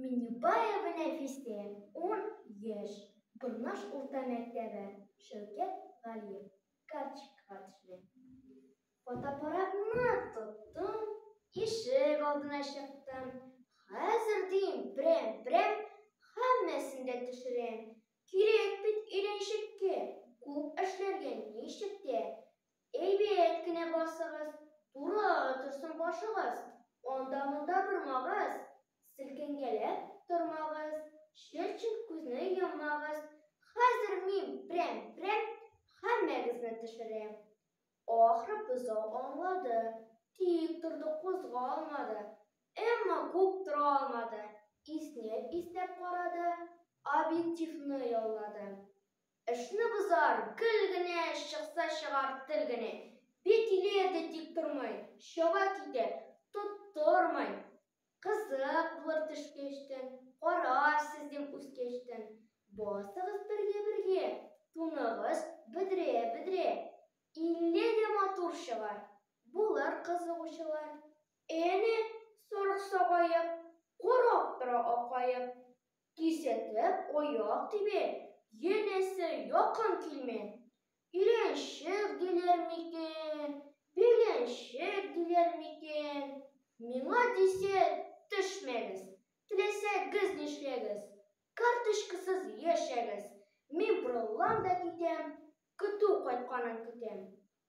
Минюбаева Нәфисә, ун яшь, Борнаш урта мәктәбе, Шәүкәт Галиев, карточкага төшерә. Фотоаппаратны тоттым, ишек алдына чыктым. Хәзер дим, берәм-берәм һәммәсен дә төшерәм. Кирәк бит өйрәнчеккә, күп эшләргә ничек тә Әйбәт кенә басыгыз, туры торсын башыгыз, анда-монда бормагыз, селкенгәләп тормагыз, чыр-чыр күзне йоммагыз, хәзер мин прәм-прәм һәммәгезне төшерәм. Ахры, бозау аңлады, тик торды, кузгалмады, әмма күп тора алмады, иснәп-иснәп карады, объективны яллады. Эшне бозар, гел генә, чыкса чыгар тел генә. Бит иле әтәй тик тормый, чаба китә, тоттырмый. Кызык булыр төш кәчтән, карарсыз дим үз кәчтән. Басыгыз бергә-бергә, туныгыз бөдрә-бөдрә. Илле дә матур чыгар, булыр кызыгучылар. Әнә, сарык-сагаеп, карап тора акаеп. Кисәтеп аяк тибеп, янәсе якын килми. Өйрәнчек диләр микән, биргәнчек диләр микән? Миңа дисә төшмәгез, теләсәгез нишләгез, карточкасыз яшәгез, мин борылам да китәм, көтү кайтканын көтәм.